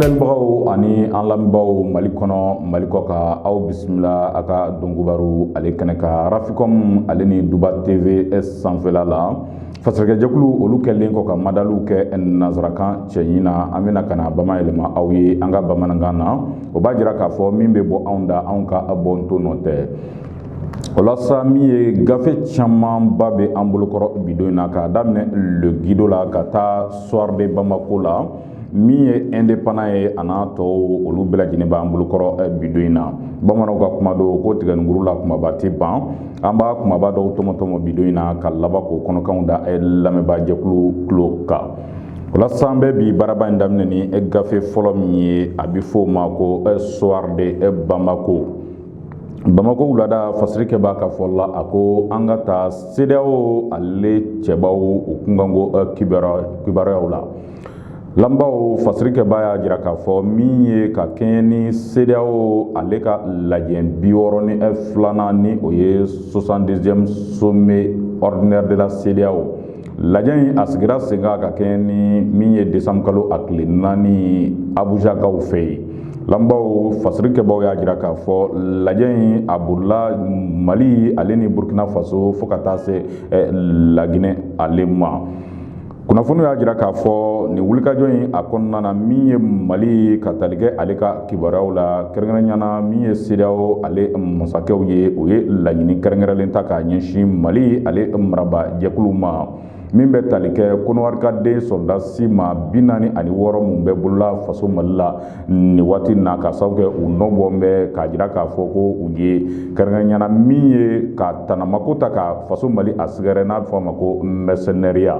filɛlibagaw ani an lamɛnbaaw mali kɔnɔ mali kɔkan aw bisimila an ka donkibaru ale kɛnɛ kan rafikɔm ale ni duba tv sanfɛla la fasirikɛjɛkulu olu kɛlen kɔ ka madaliw kɛ nansarakan cɛɲi na an bɛna ka na bama yɛlɛma aw ye an ka bamanankan na o b'a jira k'a fɔ min bɛ bɔ anw da anw ka bɔ to nɔ tɛ o la sa min ye gafe camanba bɛ an bolokɔrɔ bi don in na k'a daminɛ le guido la ka taa soir de bamako la min ye indépendant ye a n'a tɔw olu bɛɛ lajɛlen b'an bolokɔrɔ eh, bi don in na bamananw ka kuma don ko tigɛninkuru la kumaba tɛ ban an b'a kumaba dɔw tɔmɔtɔmɔ bi don in na ka laban k'o kɔnɔkanw da eh, lamɛnbaajɛkulu tulo kan walasa an bɛ bi baaraba in daminɛ ni eh, gafe fɔlɔ min ye a bɛ fɔ o ma ko soir de bamako bamako wulada fasirikɛbaa ka fɔ la a ko an ka taa sedeyawo ale cɛbaw u kunkanko kibaruyaw la Lamɛnbaaw fasirikɛbaa y'a jira k'a fɔ min ye ka kɛɲɛ ni sedeyawo ale ka lajɛ bi wɔɔrɔ ni ɛ filanan ni o ye soixante deuxième sommet ordinaire de la sedeyawo lajɛ in a sigira sen kan ka kɛɲɛ ni min ye desanburu kalo a tile naani abujakaw fɛ yen lamɛnbaaw fasirikɛbaaw y'a jira k'a fɔ lajɛ in a bolila mali ale ni burukina faso fo ka taa se laginɛ ale ma kunnafoniw y'a jira k'a fɔ nin wulikajɔ in a kɔnɔna na min ye mali ka tali kɛ ale ka kibaruyaw la kɛrɛnkɛrɛnya na min ye sedeyawo ale masakɛw ye u ye laɲini kɛrɛnkɛrɛnlen ta k'a ɲɛsin mali ale marabaajɛkuluw ma min bɛ tali kɛ kɔnɔwarikaden sɔrɔdasi maa bi naani ani wɔɔrɔ minnu bɛ bolola faso mali la nin waati na ka sababu kɛ u nɔ bɔ bɛ k'a jira k'a fɔ ko u ye kɛrɛnkɛrɛnya na min ye ka tanamako ta ka faso mali a sɛgɛrɛ n'a bɛ fɔ a ma ko mɛrisɛnɛriya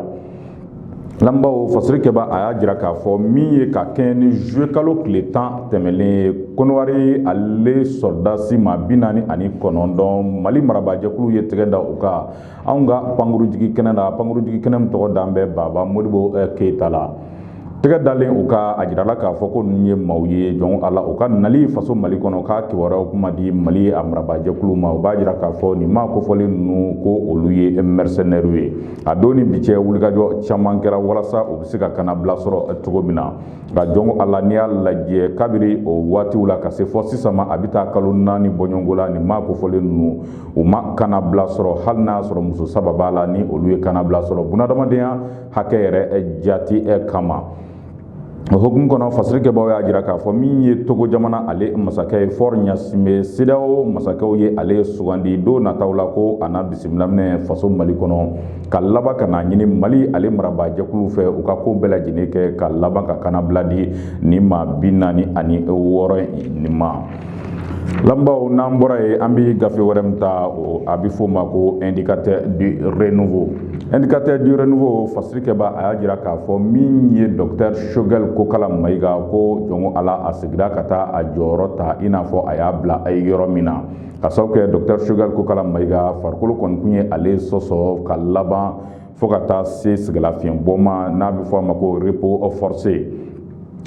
lamɛnbaaw fasirikɛbaa a y'a jira k'a fɔ min ye ka kɛɲɛ ni zuluye kalo tile tan tɛmɛlen ye kɔnɔwari ale sɔrɔdasi maa bi naani ani kɔnɔntɔn mali marabaajɛkulu ye tɛgɛ da u kan anw ka pankurujigi kɛnɛ la pankurujigi kɛnɛ min tɔgɔ dalen bɛ baba modibo eh, keyita la tɛgɛ dalen u kan a jirala k'a fɔ ko ninnu ye maaw ye jɔn ko ala u ka nali faso mali kɔnɔ k'a kibaruyaw kun ma di mali a marabaajɛkulu ma u b'a jira k'a fɔ nin maa kofɔlen ninnu ko olu ye mɛrisɛnɛriw ye a don ni bi cɛ wulikajɔ caman kɛra walasa u bɛ se ka kannabila sɔrɔ cogo min na nka jɔn ko ala n'i y'a lajɛ kabiri o waatiw la ka se fo sisan ma a bɛ taa kalo naani bɔɲɔgɔnko la nin maa kofɔlen ninnu u ma kanabila sɔrɔ hali n'a y'a sɔrɔ muso saba b'a la ni olu ye kanabila sɔrɔ bunadamadenya hakɛ yɛrɛ jati kama o hukumu kɔnɔ fasirikɛbaaw y'a jira k'a fɔ min ye togo jamana ale masakɛ ye Faure Gnassingbé CEDEAO masakɛw ye ale sugandi don nataw la ko a na bisimila minɛ faso mali kɔnɔ ka laban ka n'a ɲini mali ale marabaajɛkuluw fɛ u ka ko bɛɛ lajɛlen kɛ ka laban ka kanabila di nin maa bi naani ani wɔɔrɔ nin ma Lamɛnbaaw n'an bɔra yen an bɛ gafe wɛrɛ min ta a bɛ f'o ma ko indicateur du renouveau indicateur du renouveau fasirikɛbaa y'a jira k'a fɔ min ye docteur Choguel Kokala Mayiga ko jɔn ko Ala a segira ka taa a jɔyɔrɔ ta i n'a fɔ a y'a bila a ye yɔrɔ min na ka sababu kɛ docteur Choguel Kokala Mayiga farikolo kɔni kun ye ale sɔsɔ ka laban fo ka taa se sɛgɛnlafiɲɛbɔ ma n'a bɛ fɔ a ma ko repos forcé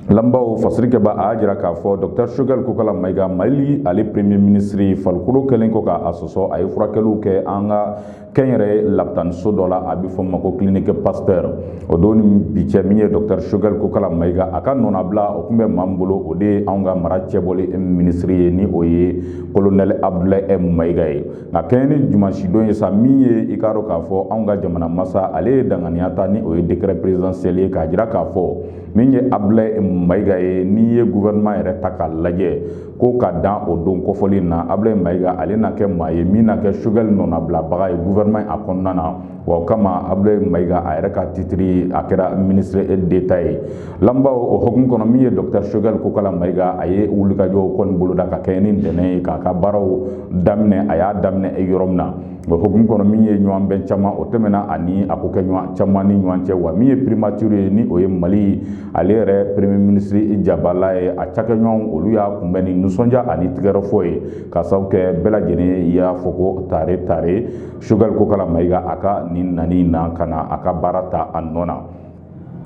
lamɛnbaaw fasirikɛbaa y'a jira k'a fɔ dɔkitɛri sogɛli kokala mayiga mali ale premier minisiri farikolo kɛlen kɔ k'a sɔsɔ a ye furakɛliw kɛ an ka kɛnyɛrɛ labitaniso dɔ la a bɛ fɔ ma ko clinique Pasteur o don ni bi cɛ min ye dɔkitɛri sogɛli kokala mayiga a ka nɔnabila o tun bɛ maa min bolo o de ye anw ka mara cɛbɔli minisiri ye ni o ye kolonɛli abudulayi mayiga ye nka kɛɲɛ ni dimansidon ye sa min ye i k'a dɔn k'a fɔ anw ka jamana masa ale ye danganiya ta ni o ye décret présidentiel ye k'a jira k'a fɔ min ye abudulayi mayiga ye n'i ye gouvernement yɛrɛ ta k'a lajɛ ko ka dan o don kɔfɔli na abudulayi mayiga ale na kɛ maa ye min na kɛ sogɛli nɔnabilabaga ye gouvernement a kɔnɔna na wa o kama abulayi mayiga a yɛrɛ ka titiri a kɛra minisiri d'État ye lamɛnbaaw o hukumu kɔnɔ min ye dɔkitɛri sogɛli kokala mayiga a ye wulikajɔw kɔni boloda ka kɛɲɛ ni ntɛnɛn ye k'a ka baaraw daminɛ a y'a daminɛ yɔrɔ min na o hukumu kɔnɔ min ye ɲɔgɔn bɛn caman o tɛmɛna ani a kokɛɲɔgɔn caman ni ɲɔgɔn cɛ wa min ye primatiri ye ni o ye mali ale yɛrɛ premier minisiri jabala ye a cakɛɲɔgɔnw olu y'a kunbɛn ni nisɔndiya ani tɛgɛrɛfɔ ye ka sababu kɛ bɛɛ lajɛlen y'a fɔ ko tare tare Choguel Kokala Mayiga a ka nin nani na ka na a ka baara ta a nɔ na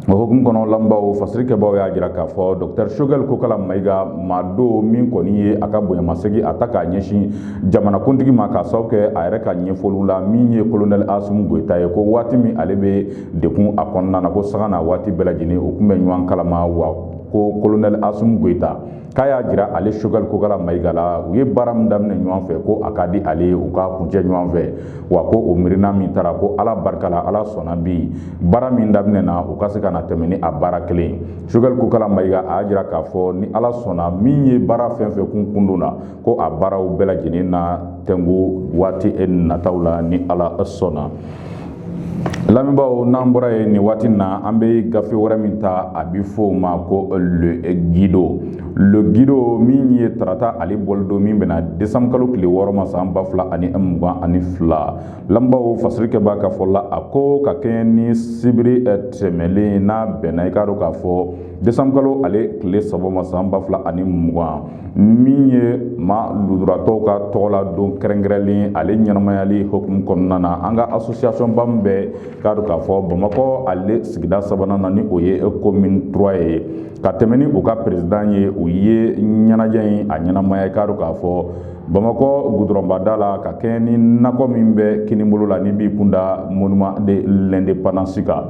o hukumu kɔnɔ lamɛnbaaw fasirikɛbaaw y'a jira k'a fɔ docteur Choguel Kokala Mayiga maa don min kɔni ye a ka bonyamasegin a ta k'a ɲɛsin jamanakuntigi ma k'a sababu kɛ a yɛrɛ ka ɲɛfɔliw la min ye colonel Asimi Goyita ye ko waati min ale bɛ degun a kɔnɔna na ko sanga n'a waati bɛɛ lajɛlen u tun bɛ ɲɔgɔn kalama wa ko colonel Asimi Goyita k'a y'a jira ale sogɛli kokala mayiga la u ye baara min daminɛ ɲɔgɔn fɛ ko a ka di ale ye u k'a kuncɛ ɲɔgɔn fɛ wa ko o miirina min tara ko ala barika la ala sɔnna bi baara min daminɛna u ka se ka na tɛmɛ ni a baara kelen sogɛli kokala mayiga a y'a jira k'a fɔ ni ala sɔnna min ye baara fɛn fɛn kun kundonna ko a baaraw bɛɛ lajɛlen na tɛnku waati nataw la ni ala sɔnna lamɛnbaaw n'an bɔra yen nin waati na an bɛ gafe wɛrɛ min ta a bɛ fɔ o ma ko le guido le guido min ye tarata ale bɔli don min bɛna desanbu kalo tile wɔɔrɔ ma san ba fila ani mugan ani fila lamɛnbaaw fasirikɛbaa ka fɔ la a ko ka kɛɲɛ ni sibiri tɛmɛlen n'a bɛnna i k'a dɔn k'a fɔ desanbu kalo ale tile saba ma san ba fila ani mugan min ye maa lujuratɔw ka tɔgɔ la don kɛrɛnkɛrɛnlen ale ɲɛnamayali hukumu kɔnɔna na an ka asosiyasɔnba min bɛ k'a dɔn k'a fɔ bamakɔ ale sigida sabanan na ni o ye komin trois ye ka tɛmɛ ni u ka perezidan ye u ye ɲɛnajɛ in a ɲɛnamaya i k'a dɔn k'a fɔ bamakɔ gudɔrɔnbada la ka kɛɲɛ ni nakɔ min bɛ kinibolo la n'i b'i kunda monument de l'indépendance kan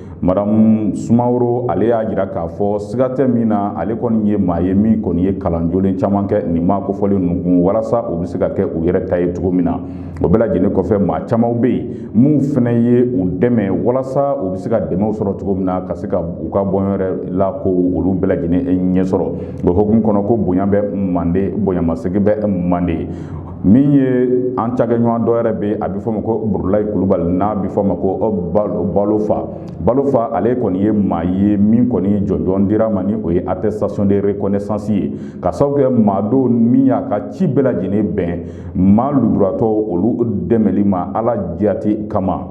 madamu sumaworo ale y'a jira k'a fɔ siga tɛ min na ale kɔni ye maa ye min kɔni ye kalan jolen caman kɛ nin maa kofɔlen ninnu kun walasa u bɛ se ka kɛ u yɛrɛ ta ye cogo min na o bɛɛ lajɛlen kɔfɛ maa camanw bɛ yen minnu fana ye u dɛmɛ walasa u bɛ se ka dɛmɛw sɔrɔ cogo min na ka se ka u ka bɔɲɔ yɛrɛ la ko olu bɛɛ lajɛlen ɲɛ sɔrɔ o hukumu kɔnɔ ko bonya bɛ manden bonyamasegin bɛ manden min ye an cakɛɲɔgɔn dɔ yɛrɛ bɛ a bɛ fɔ ma ko burulayi kulubali n'a bɛ fɔ ma ko balofa balofa ale kɔni ye maa ye min kɔni jɔnjɔn dira ma ni o ye attestation de reconnaissance ye k'a sababu kɛ maa don min y'a ka ci bɛɛ lajɛlen bɛn maa lujuratɔw olu dɛmɛli ma ala jati kama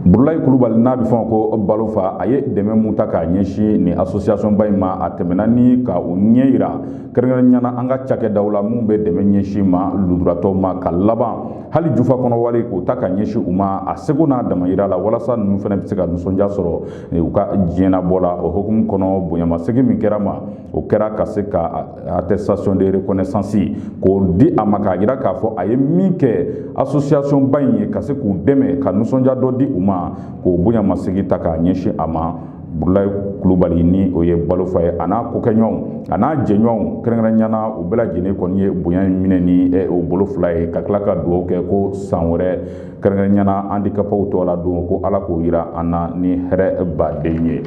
burulayi kulubali n'a bɛ fɔ ma ko balofa a ye dɛmɛ mun ta k'a ɲɛsin nin asosiyasɔnba in ma a tɛmɛna ni ka u ɲɛ yira kɛrɛnkɛrɛnnenya na an ka cakɛdaw la minnu bɛ dɛmɛ ɲɛsin maa lujuratɔw ma ka laban hali jufa kɔnɔ wari k'o ta k'a ɲɛsin u ma a seko n'a damayira la walasa ninnu fana bɛ se ka nisɔndiya sɔrɔ u ka diɲɛnabɔ la o hukumu kɔnɔ bonyamasegin min kɛra ma o kɛra ka se ka attestation de reconnaissance k'o di a ma k'a jira k'a fɔ a ye min kɛ association ba in ye ka se k'u dɛmɛ ka nisɔndiya dɔ di u ma k'o bonyamasegin ta k'a ɲɛsin a ma burulayi kulubali ni o ye balofa ye a n'a kokɛɲɔgɔnw a n'a jɛɲɔgɔnw kɛrɛnkɛrɛnya na u bɛɛ lajɛlen kɔni ye bonya in minɛ ni u bolo fila ye ka tila ka dugawu kɛ ko san wɛrɛ kɛrɛnkɛrɛnya na andikapew tɔgɔ la don ko ala k'o yira an na ni hɛrɛ baden ye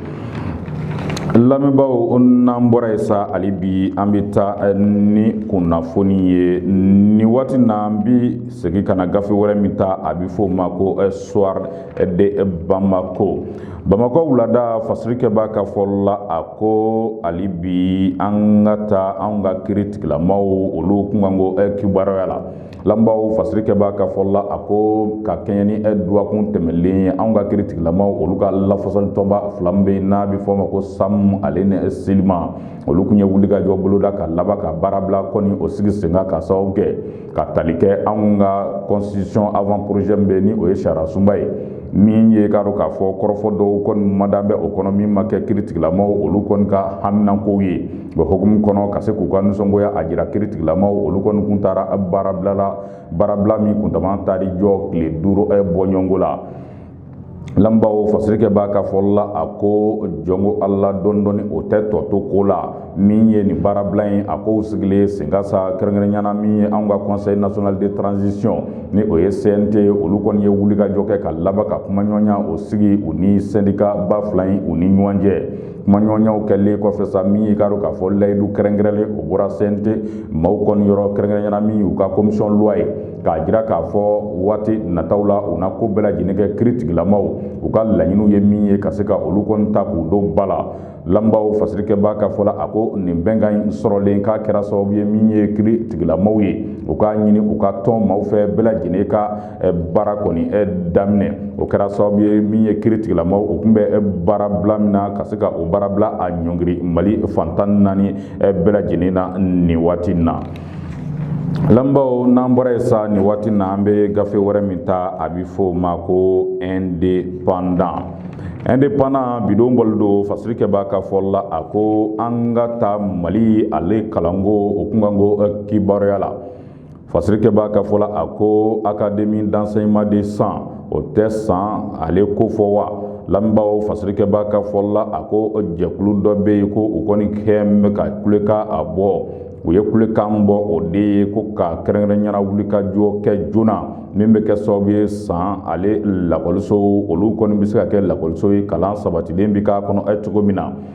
lamɛnbaaw n'an bɔra yen sa hali bi an bɛ taa eh, ni kunnafoni ye nin waati na an bɛ segin ka na gafe wɛrɛ min ta a bɛ fɔ o ma ko eh, soir de bamako bamakɔ wulada fasirikɛbaa ka fɔ la a ko hali bi an ka taa an ka kiiri tigilamaw olu kunkanko eh, kibaruya la lamɛnbaaw fasirikɛbaa ka fɔ la a ko ka kɛɲɛ ni ɛ duwakun tɛmɛnlen ye anw ka kiri tigilamaw olu ka lafasali tɔnba fila min bɛ yen n'a bɛ fɔ o ma ko SAM ale ni SYLIMA olu kun ye wulikajɔ boloda ka laban ka baarabila kɔni o sigi sen kan ka sababu kɛ ka tali kɛ anw ka constitution avant projet min bɛ yen ni o ye sariya sunba ye min ye k'a dɔn k'a fɔ kɔrɔfɔ dɔw kɔni madan bɛ o kɔnɔ min ma kɛ kiri tigilamaw olu kɔni ka haminankow ye o hukumu kɔnɔ ka se k'u ka nisɔngoya a jira kiri tigilamaw olu kɔni kun taara baarabila la baarabila min kuntaala taara i jɔ tile duuru bɔɲɔgɔnko la lamɛnbaaw fasirikɛbaa ka fɔ la a ko jɔnko ala dɔndɔ o tɛ tɔ to ko la min ye nin baarabila in a ko sigilen sen kan sa kɛrɛnkɛrɛnyana min ye anw ka conseil national de transition ni o ye CNT olu kɔni ye wulikajɔ kɛ ka laban ka kumaɲɔgɔnya o sigi u ni sɛndikaba fila in u ni ɲɔgɔn cɛ kumaɲɔgɔnyaw kɛlen kɔfɛ sa min ye k'a dɔn k'a fɔ layidu kɛrɛnkɛrɛnlen o bɔra CNT maaw kɔni yɔrɔ kɛrɛnkɛrɛnyana min y'u ka commission loi ye k'a jira k'a fɔ waati nataw la u na ko bɛɛ lajɛlen kɛ kiri tigilamaw u ka laɲiniw ye min ye ka se ka olu kɔni ta k'u don ba la lamɛnbaaw fasirikɛbaa ka fɔ la a ko nin bɛnkan in sɔrɔlen k'a kɛra sababu ye min ye kiri tigilamaw ye u k'a ɲini u ka tɔn maaw fɛ bɛɛ lajɛlen ka baara kɔni daminɛ o kɛra sababu ye min ye kiri tigilamaw o tun bɛ baarabila min na ka se ka o baarabila a ɲɔngiri mali fan tan naani bɛɛ lajɛlen na nin waati in na lamɛnbaaw n'an bɔra yen sa nin waati in na an bɛ gafe wɛrɛ min ta a bɛ fɔ o ma ko indépendant indépendant bi don bɔlen don fasirikɛbaa ka fɔ la a ko an ka taa mali ale kalanko o kunkanko kibaruya la fasirikɛbaa ka fɔ la a ko académie d'enseignement de san o tɛ san ale ko fɔ wa lamɛnbaaw fasirikɛbaa ka fɔ la a ko jɛkulu dɔ bɛ yen ko u kɔni kɛlen bɛ ka kulekan a bɔ u ye kulekan bɔ o de ye ko ka kɛrɛnkɛrɛnyana wulikajɔ kɛ joona min bɛ kɛ sababu ye san ale lakɔliso olu kɔni bɛ se ka kɛ lakɔliso ye kalan sabatilen bɛ k'a kɔnɔ cogo min na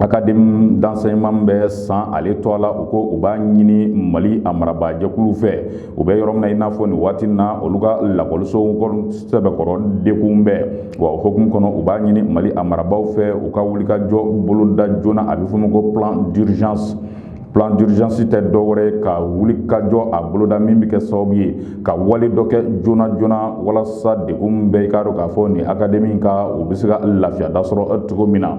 académie d'enseignement bɛ san ale tɔgɔ la u ko u b'a ɲini mali a marabajɛkulu fɛ u bɛ yɔrɔ min na i n'a fɔ nin waati na olu ka lakɔlisoko sɛbɛkɔrɔ degun bɛ wa o hukumu kɔnɔ u b'a ɲini mali a marabagaw fɛ u ka wulikajɔ boloda joona a bɛ fɔ o ma ko plan d'urgence plan d'urgence tɛ dɔwɛrɛ ye ka wulikajɔ a boloda min bɛ kɛ sababu ye ka wale dɔ kɛ joona joona walasa degun bɛ i k'a dɔn k'a fɔ nin académie kan u bɛ se ka lafiya da sɔrɔ cogo min na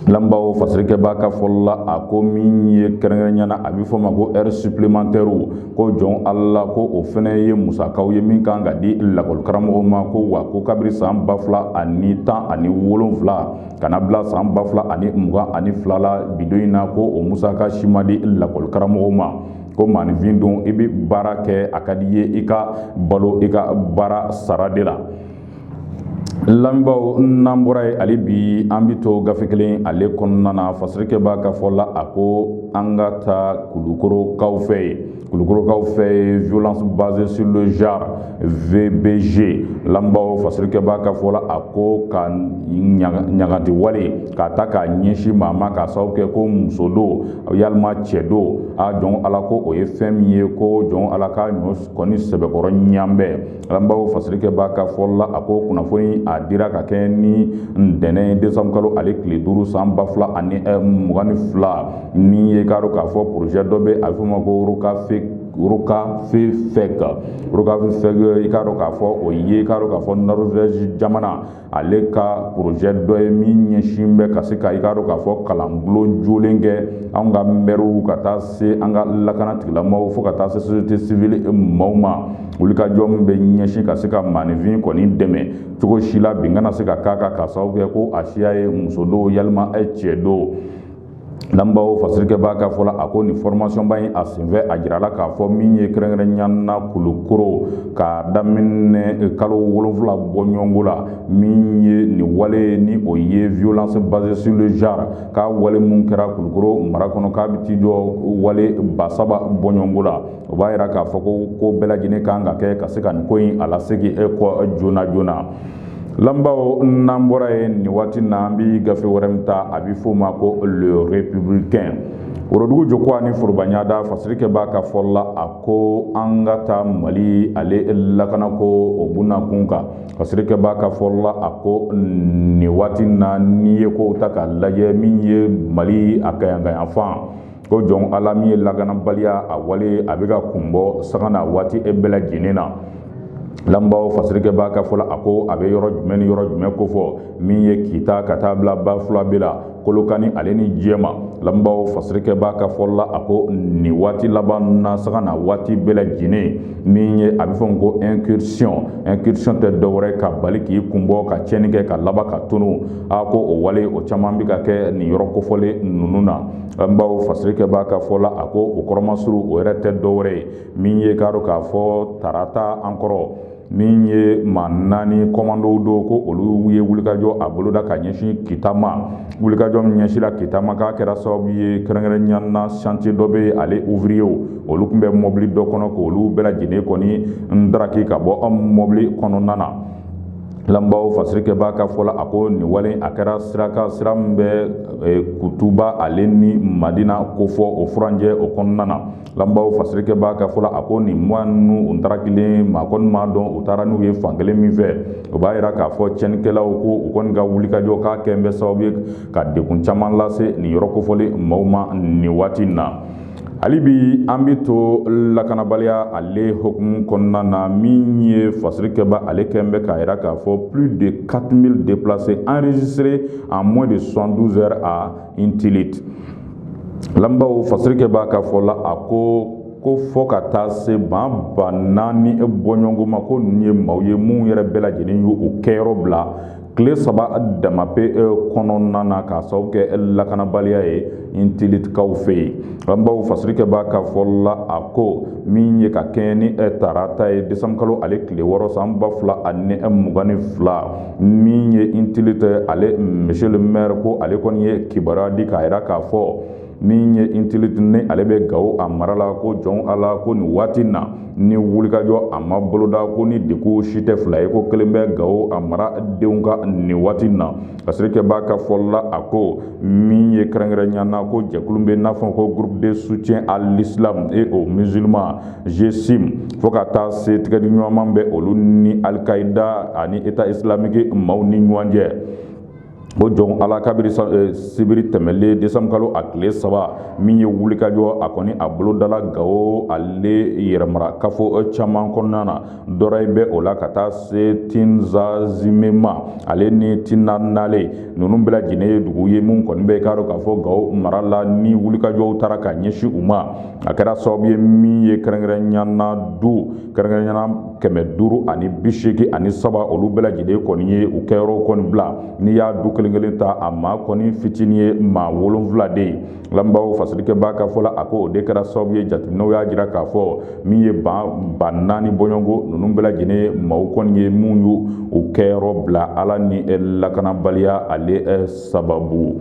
lamɛnbaaw fasirikɛbaa ka fɔ la a ko min ye kɛrɛnkɛrɛnyana a bɛ fɔ o ma ko heures supplémentaires ko jɔn ala ko o fana ye musakaw ye min kan ka di lakɔlikaramɔgɔw ma ko wa ko kabiri san ba fila ani tan ani wolonwula ka na bila san ba fila ani mugan ani fila la bidon in na ko o musaka si ma di lakɔli karamɔgɔw ma ko maaninfin don i bɛ baara kɛ a ka di i ye i ka balo i ka baara sara de la lamɛnbaaw n'an bɔra yen hali bi an bɛ to gafe kelen ale kɔnɔna na fasirikɛbaa ka fɔ la a ko an ka taa kulukorokaw fɛ yen Kulukorokaw fɛ yen violence basée sur le genre VBG lamɛnbaaw fasirikɛbaa ka fɔ la a ko ka ɲagati wale k'a ta k'a ɲɛsin maa ma k'a sababu kɛ ko muso don yalima cɛ don a jɔn ala ko o ye fɛn min ye ko jɔn ala ka ɲɔ kɔni sɛbɛkɔrɔ ɲanbɛn lamɛnbaaw fasirikɛbaa ka fɔ la a ko kunnafoni a dira ka kɛ ni ntɛnɛn desanburu kalo ale tile duuru san ba fila ani eh, mugan ni fila min ye k'a dɔn k'a fɔ porozɛ dɔ bɛ a bɛ f'o ma ko rokafefɛk rokafefɛk i k'a dɔn k'a fɔ o ye k'a dɔn k'a fɔ norvɛzi jamana ale ka porozɛ dɔ ye min ɲɛsin bɛ ka se ka i k'a dɔn k'a fɔ kalanbulon jolen kɛ anw ka mɛriw ka taa se an ka lakana tigilamaaw fo ka taa se société civile maaw ma wulikajɔ min bɛ ɲɛsin ka se ka maaninfin kɔni dɛmɛ cogo si la bin kana se ka k'a kan k'a sababu kɛ ko a siya ye muso don yalima cɛ don Lamɛnbaaw fasirikɛbaa ka fɔ la a ko nin formation ba in a senfɛ a jirala k'a fɔ min ye kɛrɛnkɛrɛnya na kulukoro ka daminɛ kalo wolonfila bɔɲɔgɔnko la min ye nin wale ni o ye violence basée sur le genre ka wale minnu kɛra kulukoro mara kɔnɔ k'a bɛ t'i jɔ wale ba saba bɔɲɔgɔnko la o b'a jira k'a fɔ ko ko bɛɛ lajɛlen kan ka kɛ ka se ka nin ko in a lasegin kɔ joona joona Lamɛnbaaw n'an bɔra yen nin waati na an bɛ gafe wɛrɛ min ta a bɛ f'o ma ko Le Républicain worodugu jɔ ko ani forobanyadaa fasirikɛbaa ka fɔ la a ko an ka taa mali ale lakana ko o buna kun kan fasirikɛbaa ka fɔ la a ko nin waati na n'i ye ko ta ka lajɛ min ye mali a kɛɲɛkayanfan Ko jɔn ala min ye lakanabaliya a wale a bɛ ka kun bɔ sanga ni waati bɛɛ lajɛlen na lamɛnbaaw fasirikɛbaa ka fɔ la a ko a bɛ yɔrɔ jumɛn ni yɔrɔ jumɛn kofɔ min ye kita ka taa bila Bafulabɛ la Kolokani ale ni Jɛma lamɛnbaaw fasirikɛbaa ka fɔ la a ko nin waati laban na sanga ni waati bɛɛ lajɛlen min ye a bɛ fɔ ko incursion incursion tɛ dɔwɛrɛ ka bali k'i kun bɔ ka tiɲɛni kɛ ka laban ka tunun a ko o wale o caman bɛ ka kɛ nin yɔrɔ kofɔlen ninnu na lamɛnbaaw fasirikɛbaa ka fɔ la a ko o kɔrɔmasuru o yɛrɛ tɛ dɔwɛrɛ ye min ye k'a dɔn k'a fɔ tarata an kɔrɔ min ye maa naani kɔmandow don ko olu ye wulikajɔ a boloda ka ɲɛsin kita ma wulikajɔ min ɲɛsira kita ma k'a kɛra sababu ye kɛrɛnkɛrɛnnenya na chantier dɔ bɛ yen ale ouvriyew olu tun bɛ mɔbili dɔ kɔnɔ k'olu bɛɛ lajɛlen kɔni ndaraki ka bɔ an mɔbili kɔnɔna na Lamɛnbaaw fasirikɛba ka fɔ la a ko nin wale a kɛra sira kan sira min bɛ e, kutuba ale ni madina ko fɔ o furancɛ o kɔnɔna na lamɛnbaaw fasirikɛba ka fɔ la a ko nin mɔgɔ ninnu u taara kelen maa kɔni m'a dɔn u taara n'u ye fankelen min fɛ o b'a jira k'a fɔ cɛnnikɛlaw ko u kɔni ka wulikajɔ k'a kɛ bɛ sababu ye ka degun caman lase nin yɔrɔ kofɔlen maaw ma nin waati in na hali bi an bɛ to lakanabaliya ale hukumu kɔnɔna na min ye fasirikɛba ale kɔni bɛ k'a jira k'a fɔ plus de 4000 déplacés enregistrés en moins de 72 heures à Intilit lamɛnbaaw fasirikɛba ka fɔ la a ko ko fo ka taa se ban ba naani bɔɲɔgɔnko ma ko ninnu ye maaw ye minnu yɛrɛ bɛɛ lajɛlen y'u kɛyɔrɔ bila tile saba dama pe e, kɔnɔna na k'a sababu kɛ lakanabaliya ye Intilitkaw fɛ yen lamɛnbaaw fasirikɛba ka fɔ la a ko min ye ka kɛɲɛ ni e, tarata ye desanburukalo ale tile wɔɔrɔ san ba fila ani e, mugan ni fila min ye Intilit ale monsieur le maire ko ale kɔni ye kibaruya di k'a jira k'a fɔ min ye Intilit ni ale bɛ gawo a mara la ko jɔn ala ko nin waati na ni wulikajɔ a ma boloda ko ni degun si tɛ fila ye ko kelen bɛ gawo a mara denw kan nin waati na fasirikɛba ka fɔ la a ko min ye kɛrɛnkɛrɛnya na ko jɛkulu bɛ n'a fɔ ko groupe de soutien à l'islam et aux musulmans GSIM fo ka taa se tɛgɛdiɲɔgɔnma bɛ olu ni Al-Qaïda ani état islamique maaw ni ɲɔgɔn cɛ o jɔn ala kabiri eh, sibiri tɛmɛlen desanburukalo a tile saba min ye wulikajɔ a kɔni a bolodala gawo ale yɛrɛ mara kafo eh, caman kɔnɔna na dɔrɔyi bɛ o la ka taa se tinzazimema ale ni tinanale ninnu bɛɛ lajɛlen ye dugu ye min kɔni bɛ k'a dɔn k'a fɔ gawo mara la ni wulikajɔw taara ka ɲɛsin u ma a kɛra sababu ye min ye kɛrɛnkɛrɛnnenya na du kɛrɛnkɛrɛnya na kɛmɛ duuru ani bi seegin ani saba olu bɛɛ lajɛlen kɔni ye u kɛyɔrɔw kɔni bila n'i y'a du kelen kelen ta a maa kɔni fitinin ye maa wolonfila de ye lamɛnbaaw fasirikɛba ka fɔ la a ko o de kɛra sababu ye jateminɛw y'a jira k'a fɔ min ye ba ba naani bɔɲɔgɔnko ninnu bɛɛ lajɛlen maaw kɔni ye minnu y'u kɛyɔrɔ bila ala ni lakanabaliya ale sababu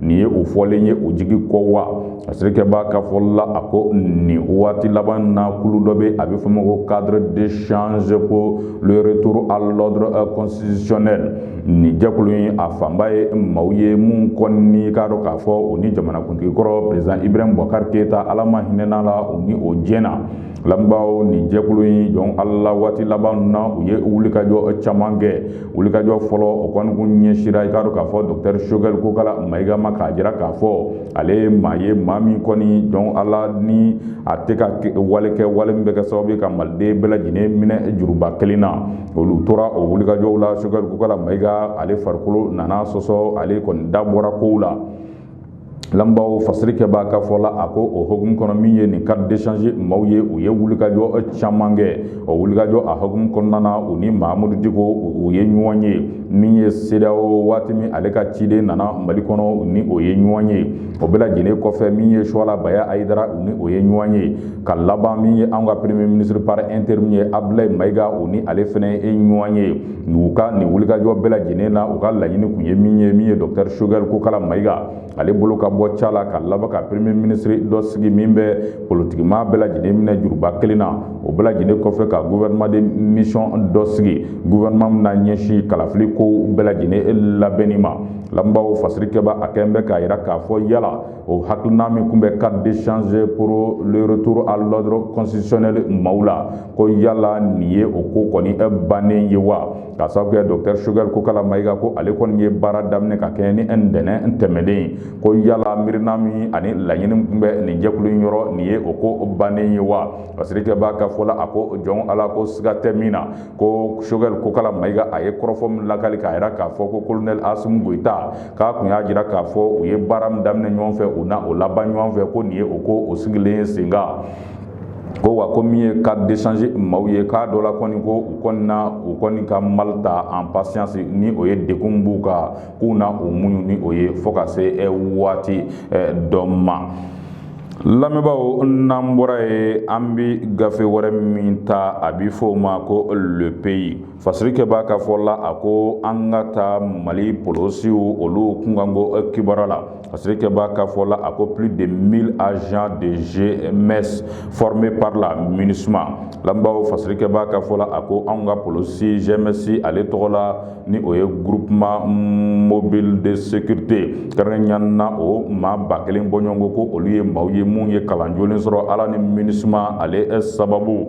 nin ye o fɔlen ye o jigin kɔ wa fasirikɛba ka fɔ la a ko nin waati laban na kulu dɔ bɛ a bɛ fɔ ma ko cadre d'échange pour le retour à l'ordre euh, constitutionnel nin jɛkulu in a fanba ye maaw ye minnu kɔni k'a dɔn k'a fɔ u ni jamanakuntigi kɔrɔ président Ibrahim Boubacar Keita ala ma hinɛna a la u ni o jɛna lamɛnbaaw nin jɛkulu in jɔn ala waati laban na u ye wulikajɔ caman kɛ wulikajɔ fɔlɔ o kɔni kun ɲɛsira i k'a dɔn k'a fɔ dɔkitɛri sogɛli kokala mayiga ma k'a jira k'a fɔ ale ye maa ye maa min kɔni jɔn ala ni a tɛ ka wale kɛ wale min bɛ kɛ sababu ye ka maliden bɛɛ lajɛlen minɛ juruba kelen na olu tora o wulikajɔw la sogɛli kokala mayiga ale farikolo nana sɔsɔ ale kɔni da bɔra kow la lamɛnbaaw fasirikɛbaa ka fɔ la a ko o hukumu kɔnɔ min ye nin cadre d'échange maaw ye u ye wulikajɔ caman kɛ o wulikajɔ a hukumu kɔnɔna na u ni mahamudu diko u ye ɲɔgɔn ye min ye CEDEAO waati min ale ka ciden nana mali kɔnɔ ni o ye ɲɔgɔn ye o bɛɛ lajɛlen kɔfɛ min ye suwala baya ayidara u ni o ye ɲɔgɔn ye ka laban min ye an ka premier ministre par intérim ye abdulayi mayiga u ni ale fɛnɛ ye ɲɔgɔn ye u ka nin wulikajɔ bɛɛ lajɛlen na u ka laɲini kun ye min ye min ye dɔktɛri sogɛli kokala mayiga ale bolo ka bɔ ca la ka laban ka premier ministre dɔ sigi min bɛ politikimaa bɛɛ lajɛlen minɛ juruba kelen na o bɛɛ lajɛlen kɔfɛ ka gouvernement de mission dɔ sigi gouvernement min na ɲɛsin kalafili ko bɛɛ lajɛlen labɛnni ma lamɛnbaaw fasirikɛbaa a kɛlen bɛ k'a jira k'a fɔ yala o hakilina min kun bɛ cadre d'échange pour le retour à l'ordre constitutionnel maaw la ko yala nin ye o ko kɔni bannen ye wa k'a sababu kɛ docteur Choguel Kokala Mayiga ko ale kɔni ye baara daminɛ ka kɛɲɛ ni ntɛnɛn tɛmɛnen ye ko yala miirina min ani laɲini kun bɛ nin jɛkulu in yɔrɔ nin ye o ko bannen ye wa fasirikɛbaa ka fɔ la a ko jɔn Ala ko siga tɛ min na ko sogɛli kokala mayiga a ye kɔrɔfɔ min lakali k'a yira k'a fɔ ko kolonɛli asimi goyita k'a kun y'a jira k'a fɔ u ye baara min daminɛ ɲɔgɔn fɛ u na o laban ɲɔgɔn fɛ ko nin ye o ko o sigilen sen kan ko wa ko min ye cadre d'échange maaw ye k'a dɔ la kɔni ko u kɔni na u kɔni ka mal ta en patience ni o ye degun b'u kan k'u na o muɲu ni o ye fo ka se waati dɔ ma lamɛnbaaw n'an bɔra yen an bi gafe wɛrɛ min ta a bi fɔ o ma ko le pays fasirikɛbaa ka fɔ la a ko an ka taa mali polosiw olu kunkanko kibaruya la fasirikɛbaa ka fɔ la a ko plus de 1000 agents de GMS formés par la MINUSMA lamɛnbaaw fasirikɛbaa ka fɔ la a ko an ka polosi GMS ale tɔgɔ la ni o ye groupement mobile de sécurité kɛrɛnkɛrɛnnen na o maa ba kelen bɔɲɔgɔnko ko olu ye maaw ye mun ye kalan jolen sɔrɔ ala ni MINUSMA ale sababu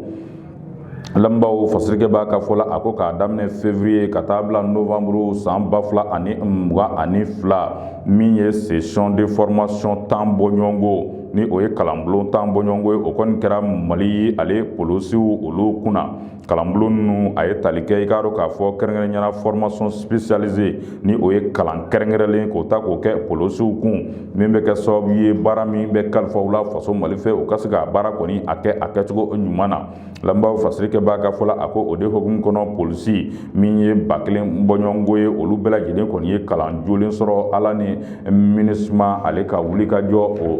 lamɛnbaaw fasirikɛbaa ka fɔ la a ko k'a daminɛ février ka taa bila novembre san ba fila ani mugan ani fila min ye session de formation tan bɔɲɔgɔnko ni o ye kalanbulon tan bɔɲɔgɔnko ye o kɔni kɛra mali ale polosiw olu kunna kalanbulon ninnu a ye tali kɛ i k'a dɔn k'a fɔ kɛrɛnkɛrɛnya na formation spécialisée ni o ye kalan kɛrɛnkɛrɛnlen k'o ta k'o kɛ polisiw kun min bɛ kɛ sababu ye baara min bɛ kalifa u la faso mali fɛ u ka se ka baara kɔni a kɛ a kɛcogo ɲuman na lamɛnbaaw fasirikɛba ka fɔ la a ko o de hokumu kɔnɔ polisi min ye ba kelen bɔɲɔgɔnko ye olu bɛɛ lajɛlen kɔni ye kalan jolen sɔrɔ ala ni MINUSMA ale ka wulikajɔ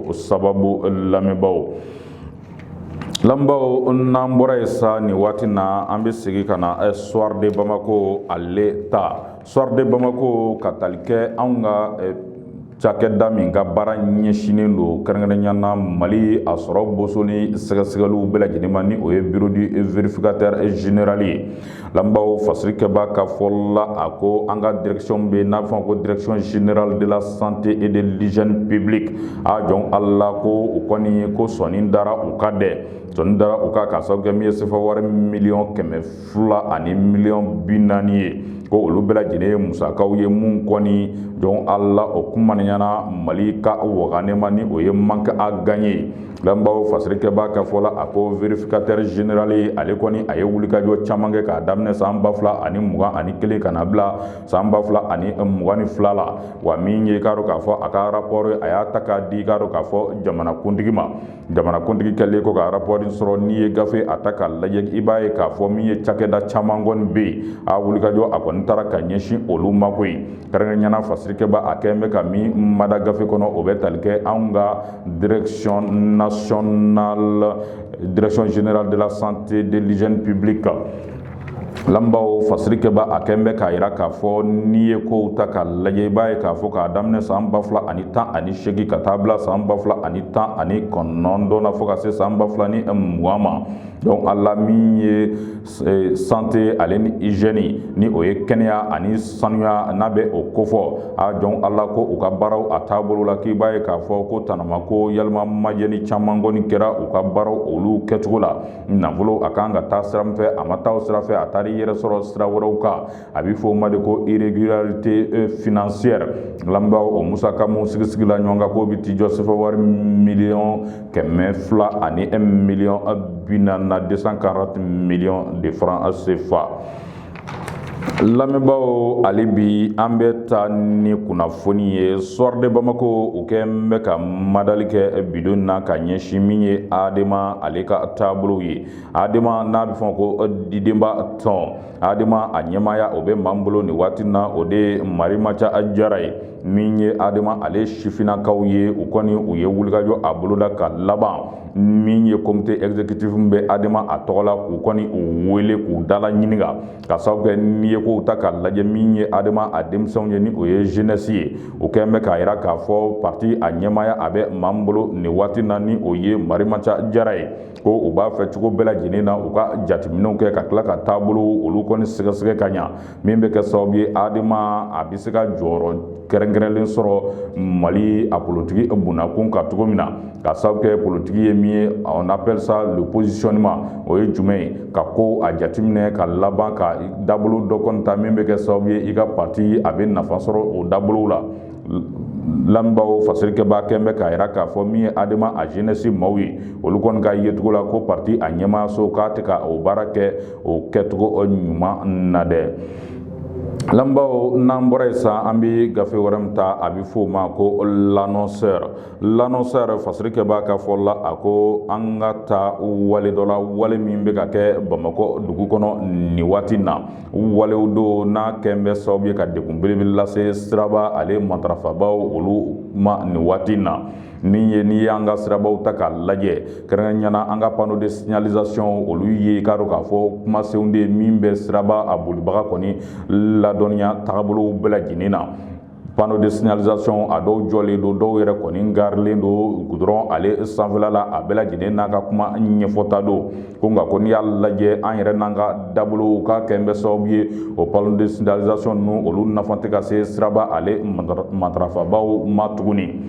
o sababu lamɛnbaaw Lamɛnbaaw n'an bɔra yen sa nin waati na an bɛ segin ka na soir de bamako ale ta soir de bamako ka tali kɛ anw ka cakɛda min ka baara ɲɛsinnen don kɛrɛnkɛrɛnya na mali a sɔrɔ boson ni sɛgɛsɛgɛliw bɛɛ lajɛlen ma ni o ye bureau du vérificateur général ye Lamɛnbaaw fasirikɛba ka fɔ la a ko an ka direction bɛ n'a bɛ fɔ ko direction générale de la santé et de l'hygiène publique a jɔn ala ko u kɔni ko sɔɔni dara u kan dɛ sɔɔni dara u kan k'a sababu kɛ min ye sefa wari miliyɔn kɛmɛ fila ani miliyɔn bi naani ye ko olu bɛɛ lajɛlen ye musakaw ye minnu kɔni jɔn ala o kumaniyana mali ka wagane ma ni o ye manque à gagner Lamɛnbaaw fasirikɛba ka fɔ la a ko vérificateur général ale kɔni a ye wulikajɔ caman kɛ k'a daminɛ san ba fila ani mugan ani kelen ka na bila san ba fila ani mugan ni fila la wa min ye k'a dɔn k'a fɔ a ka rapport a y'a ta k'a di k'a dɔn k'a fɔ jamanakuntigi ma jamanakuntigi kɛlen kɔ ka rapport sɔrɔ n'i ye gafe a ta k'a lajɛ i b'a ye k'a fɔ min ye cakɛda caman kɔni bɛ yen a wulikajɔ a kɔni taara ka ɲɛsin olu ma koyi kɛrɛnkɛrɛnya na fasirikɛba a kɛlen bɛ ka min mada gafe kɔnɔ o bɛ tali kɛ anw ka direction nationale direction générale de la santé de l'hygiène publique kan lamɛnbaaw fasirikɛba a kɛn bɛ k'a yira k'a fɔ n'i ye kow ta k'a lajɛ i b'a ye k'a fɔ k'a daminɛ san ba fila ani tan ani seegin ka taa bila san ba fila ani tan ani kɔnɔntɔn na fo ka se san ba fila ni mugan ma donc ala min ye E, santé ale ni hygiène ni o ye kɛnɛya ani sanuya n'a bɛ o kofɔ a jɔn ala ko u ka baaraw a taabolo la k'i b'a ye k'a fɔ ko tanama ko yalama majɛli caman kɔni kɛra u ka baaraw olu kɛcogo la nafolo a kan ka taa sira min fɛ a ma taa o sira fɛ a taara i yɛrɛ sɔrɔ sira wɛrɛw kan a bɛ fɔ o ma de ko irrégularité euh, financière lamɛnbaaw o musaka minnu sigisigila ɲɔgɔn kan k'o bɛ t'i jɔ sefa wari miliyɔn kɛmɛ fila ani miliyɔn bi naani na deux cent quarante millions de francs CFA. lamɛnbaaw ale bi an bɛ taa ni kunnafoni ye soir de bamako u kɛn bɛ ka madali kɛ bi don na ka ɲɛsin min ye adema ale ka taabolow ye adema n'a bɛ fɔ ko didenba tɔn adema a ɲɛmaaya o bɛ maan bolo nin waati na o de ye marimanca jara ye min ye adema ale sifinnakaw ye u kɔni u ye wulikajɔ a boloda ka laban min ye komite ezekitifu bɛ adema a tɔgɔ la k'u kɔni u wele k'u dala ɲininka k'a sababu kɛ n'i ye kow ta k'a lajɛ min ye adema a denmisɛnw ye ni o ye zenɛsi ye o kɛlen bɛ k'a jira k'a fɔ pati a ɲɛmaaya a bɛ maan bolo nin waati na ni o ye marimanca jara ye ko u b'a fɛ cogo bɛɛ lajɛlen na u ka jateminɛw kɛ ka tila ka taabolow olu kɔni sɛgɛsɛgɛ ka ɲa min bɛ kɛ sababu ye adema a bɛ se ka jɔyɔrɔ kɛrɛnkɛrɛnlen sɔrɔ mali a politiki bonnakun kan cogo min na k'a sababu kɛ politiki ye min ye on appelle ça le positionnement o ye jumɛn ye ka ko a jateminɛ ka laban ka dabolo dɔ kɔni ta min bɛ kɛ sababu ye i ka parti a bɛ nafa sɔrɔ o dabolow la lamɛnbaaw fasirikɛbaa kɛn bɛ k'a jira k'a fɔ min ye adema a jenɛsi maaw ye olu kɔni ka yecogo la ko parti a ɲɛmaayaso k'a tɛ ka o baara kɛ o kɛcogo ɲuman na dɛ lamɛnbaaw n'an bɔra yen sisan an bɛ gafe wɛrɛ min ta a bɛ f'o ma ko l'annonceur l'annonceur fasirikɛbaa ka fɔ la a ko an ka taa wale dɔ la wale min bɛ ka kɛ bamakɔ dugu kɔnɔ nin waati na walew don n'a kɛn bɛ sababu ye ka degun belebele lase siraba ale matarafabaaw olu ma nin waati na min ye n'i y'an ka sirabaw ta k'a lajɛ kɛrɛnkɛrɛnya na an ka panneau de signalisation olu ye i k'a dɔn k'a fɔ kumasenw de ye min bɛ siraba a bolibaga kɔni ladɔnniya tagabolow bɛɛ lajɛlen na panneau de signalisation a dɔw jɔlen don dɔw yɛrɛ kɔni garilen don goudron ale sanfɛla la a bɛɛ lajɛlen n'a ka kuma ɲɛfɔta don ko nka ko n'i y'a lajɛ an yɛrɛ n'an ka dabolow k'a kɛn bɛ sababu ye o panneau de signalisation ninnu olu nafa tɛ ka se siraba ale matarafabaaw ma tuguni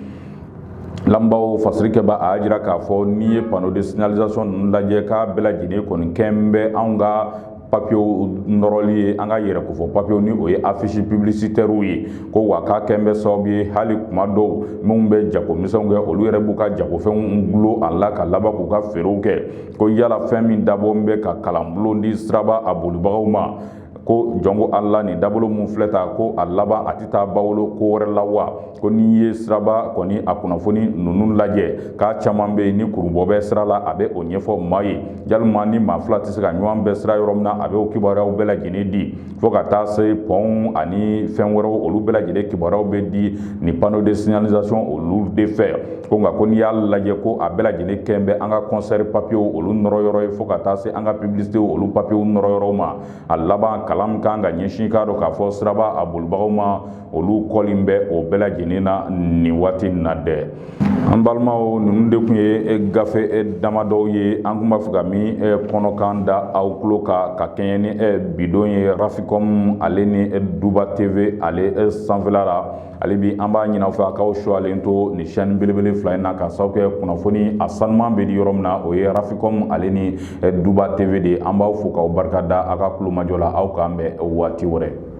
lamɛnbaaw fasirikɛbaa a y'a jira k'a fɔ n'i ye panneau de signalisation ninnu lajɛ k'a bɛɛ lajɛlen kɔni kɛn bɛ anw ka papiyew nɔrɔli ye an ka yɛrɛkofɔ papiyew ni o ye afisi piblisitɛriw ye ko wa k'a kɛn bɛ sababu ye hali tuma dɔw minnu bɛ jagomisɛnw kɛ olu yɛrɛ b'u ka jagofɛnw dulon a la ka laban k'u ka feerew kɛ ko yala fɛn min dabɔn bɛ ka kalanbulon di siraba a bolibagaw ma ko jɔnko ala nin dabolo min filɛ ta ko a laban a tɛ taa bawolo ko wɛrɛ la wa ko n'i ye siraba kɔni a kunnafoni ninnu lajɛ k'a caman bɛ yen ni kurubu bɛ sira la a bɛ o ɲɛfɔ maa ye walima ni maa fila tɛ se ka ɲɔgɔn bɛn sira yɔrɔ min na a bɛ o kibaruyaw bɛɛ lajɛlen di fo ka taa se pɔnw ani fɛn wɛrɛw olu bɛɛ lajɛlen kibaruyaw bɛ di ni panneau de signalisation olu de fɛ ko nka ko n'i y'a lajɛ ko a bɛɛ lajɛlen kɛn bɛ an ka concert papiers olu nɔrɔ yɔrɔ ye fo ka taa se an ka publicité olu papiers nɔrɔ yɔrɔ ma a laban kalan min kan ka ɲɛsin k'a dɔn k'a fɔ siraba a bolibagaw ma olu kɔlen bɛ o bɛɛ lajɛlen na nin waati in na dɛ an balimaw ninnu de tun ye gafe damadɔw ye an tun b'a fɛ ka min kɔnɔkan da aw tulo kan ka kɛɲɛ ni bidon ye rafikɔmu ale ni duba teve ale sanfɛla la ale bi an b'a ɲin'aw fɛ a k'aw suwalen to nin sɛni belebele fila in na ka sababu kɛ kunnafoni a sanuman bɛ di yɔrɔ min na o ye rafikɔmu ale ni duba teve de ye an b'aw fo k'aw barika da aw ka kulomajɔ la aw k'an bɛn waati wɛrɛ